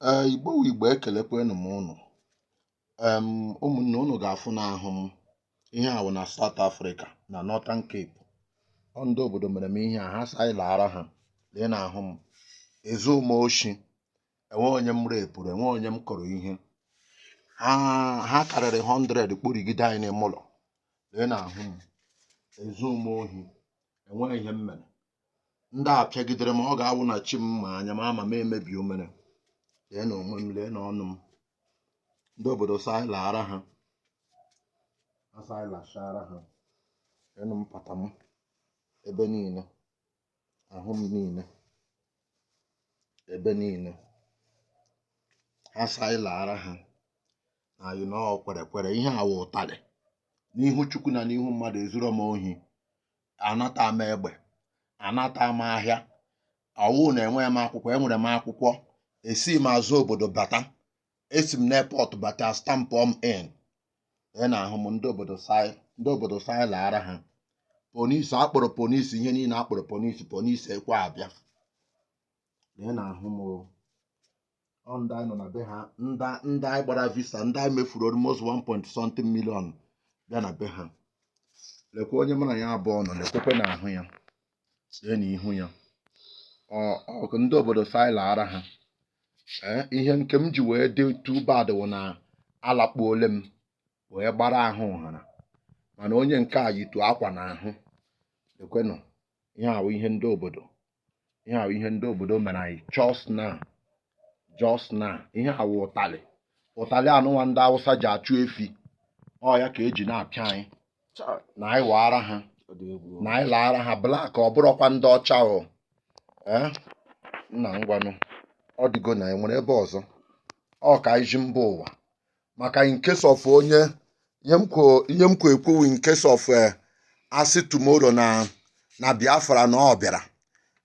ee igbo wụ igbo ekelekwanụ m ụnụ em ụmụnne ụnụ ga-afụ n'ahụ m ihe a wụ na South Africa na Northern Cape ọ ndị obodo mere m ihe a ha sị anyị laara ha lee n'ahụ m ezu m oshi enwe onye m rape-ụrụ enwe onye m kụrụ ihe ha karịrị 100 kpụrụgide anyị n'ime ụlọ lee n'ahụ m ezu m ohi enweghị ihe m mere ndị a pịagidere m ọ ga-awụ na chi m ma anya m ama m emebi o mere lee na onwe m lee na ọnụ m ndị obodo sị anyị laara ha a sị anyị lashaara ha leenụ mpata m ebe niile ahụ m niile ebe niile ha sị anyị laara ha na anyị na ọ wụ kwere kwere ihe a wụ ụtalị n'ihu chukwu na n'ihu mmadụ ezuro m ohi anata m egbe anata m ahịa ọ wụ na enweghị m akwụkwọ enwere m akwụkwọ esi m azụ obodo bata esi m n'airport bata stampụ m in ị na-ahụ m ndị obodo sị anyị ndị obodo sị anyị laara ha police a kpọrọ police ihe niile a kpọrọ police police ekwe abịa ị na-ahụ m o. ọ ndị anyị nọ na be ha ndị ndị anyị gbara visa ndị anyị mefuru almost 1 point something million bịa na be ha lekwa onye mụ na ya abụọ nọ lekwakwa na ahụ ya lee na ihu ya Ọ- ọ- ndị obodo sị anyị laara ha Ee, ihe nke m ji wee dị too bad wụ na alakpuole m wee gbara ahụ nhara mana onye nke a yitu akwa n'ahụ ekwenụ ihe a wụ ihe ndị obodo ihe a wụ ihe ndị obodo mere anyị just now just now ihe a wụ ụtalị ụtalị anụnwa ndị awụsa ji achụ efi ọ ya ka e ji na-apịa anyị na anyị waara ha na anyị laara ha black ọ bụrụkwa ndị ọcha o ee nna ngwanụ ọ dịgo na e nwere ebe ọzọ ọ ka anyị zi mba ụwa maka in case of onye ihe m kwo ihe m kwo ekwu in case of eh, a sị tomorrow na na biafra na ọ bịara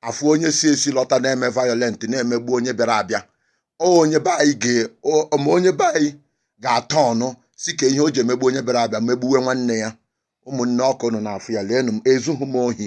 afụ onye si esi lọta na-eme violent na-emegbu onye bịara abịa ọ onye be anyị ga ọ- ma onye be anyị ga-atọ ọnụ sị kee ihe o ji emegbu onye bịara abịa megbuwe nwanne ya ụmụnne ọ ka ụnụ na-afụ ya leenụ m ezughị m ohi